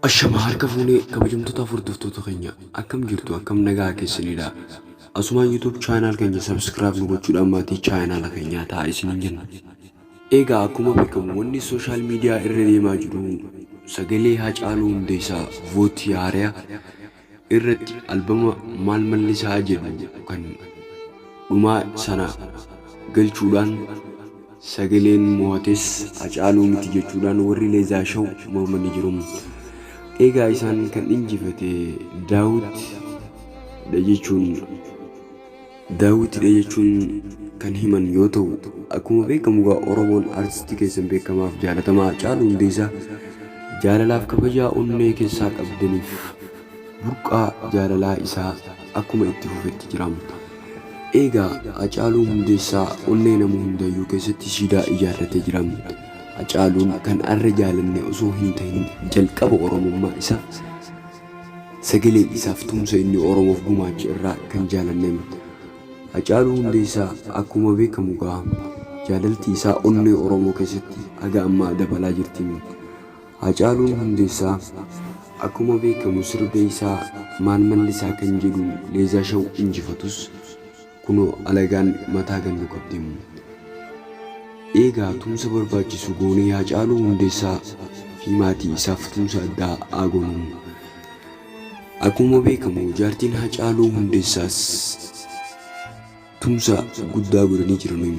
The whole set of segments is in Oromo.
Ashama harka fuunee kabajamtoota hordoftoota keenya akkam jirtu akkam nagaa keessanidha. Asumaan YouTube chaanaal keenya subscribe nu gochuudhaan maatii chaanaala keenyaa ta'a isiniin jenna. Egaa akkuma beekamu wanni sooshaal miidiyaa irra deemaa jiru sagalee Hacaaluu Hundeessaa vooti haaraa irratti albama maal mallisaa jedhu kan dhumaa sana galchuudhaan sagaleen mo'ates Hacaaluu miti jechuudhaan warri Leezaa Shaw mormanii jiru. Eegaa isaan kan injifate Daawit dha jechuun Daawwitidha jechuun kan himan yoo ta'u, akkuma beekamu egaa Oromoon artistii keessan beekamaaf jaalatamaa Hacaaluu Hundeessaa jaalalaaf kabajaa onnee keessaa qabdaniif burqaa jaalalaa isaa akkuma itti fufetti jiraam. Eegaa Hacaaluu Hundeessaa onnee nama hundayyuu keessatti siidaa ijaarratee jiraam. Hacaaluun kan arra jaalanne osoo hin ta'in jalqaba Oromummaa isaa Sagalee isaaf tumsa inni Oromoof gumaache irraa kan jaalannem Hacaaluu Hundeessaa akkuma beekamu gaa jaalalti isaa onnee Oromoo keessatti haga ammaa dabalaa jirti. Hacaaluun Hundeessaa akkuma beekamu sirba isaa Maan Mallisaa kan jedhuun Leezaa Shaw injifatus Kunoo alagaan mataa gannu qabdi immoo. Eegaa tumsa barbaachisu goonee Haacaaluu Hundeessaa fi maatii isaaf tumsa addaa haa goonu. Akkuma beekamu jaartiin Haacaaluu Hundeessaas tumsa guddaa godhanii jiranu.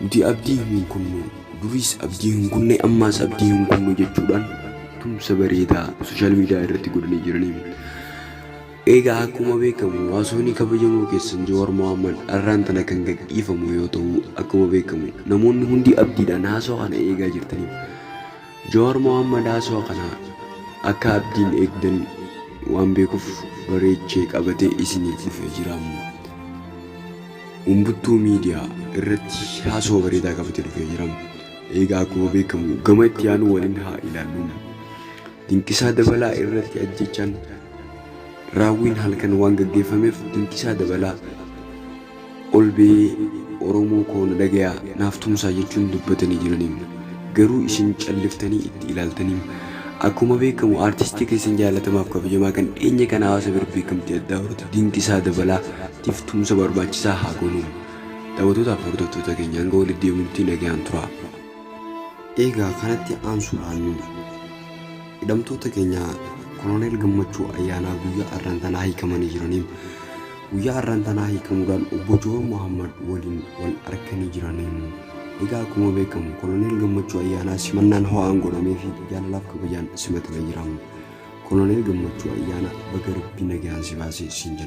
Nuti abdii hin kunnu, duriis abdii hin kunne, ammaas abdii hin kunnu jechuudhaan tumsa bareedaa sooshaal miidiyaa irratti godhanii jiraniiru. Eegaa akkuma beekamu waasoonii kabajamoo keessan Jawaar Mohaammed arraan tana kan gadhiifamu yoo ta'u akkuma beekamu namoonni hundi abdiidhaan haasoo kana eegaa jirtaniif Jawaar Mohammed haasawa kana akka abdiin eegdan waan beekuuf bareechee qabatee isiniif dhufee jira. Umbuttuu Media irratti haasawa bareedaa qabatee dhufee jira. Eegaa akkuma beekamu gama itti aanu waliin haa ilaallu. Dinqisaa Dabalaa irratti ajjechaan raawwiin halkan waan gaggeeffameef Dinqisaa Dabalaa Olbee oromoo koo na dhagayaa naaf tumsaa jechuun dubbatanii jiraniim garuu isin calliftanii itti ilaaltaniim Akkuma beekamu artistii keessan jaalatamaaf kabajamaa kan dhiyeenya kana hawaasa bira beekamtii addaa horate Dinqisaa Dabalaa tiif tumsa barbaachisaa haa goonuum Dawwatootaa fi hordoftoota keenya hanga walitti deebinutti nagayaan turaa. Eegaa kanatti aansuudhaan. Hidhamtoota keenya Koloneel Gammachuu Ayyaanaa guyyaa arraan tanaa hiikamanii jiraniim. Guyyaa arraan tanaa hiikamuudhaan obbo Joowar Mohaammad waliin wal arkanii jiraniim. Egaa akkuma beekamu Koloneel Gammachuu Ayyaanaa simannaan ho'aan godhameefi jaalalaaf kabajaan simatame jiraam. Koloneel Gammachuu Ayyaanaa baga Rabbii nagaan si baase siin jenna.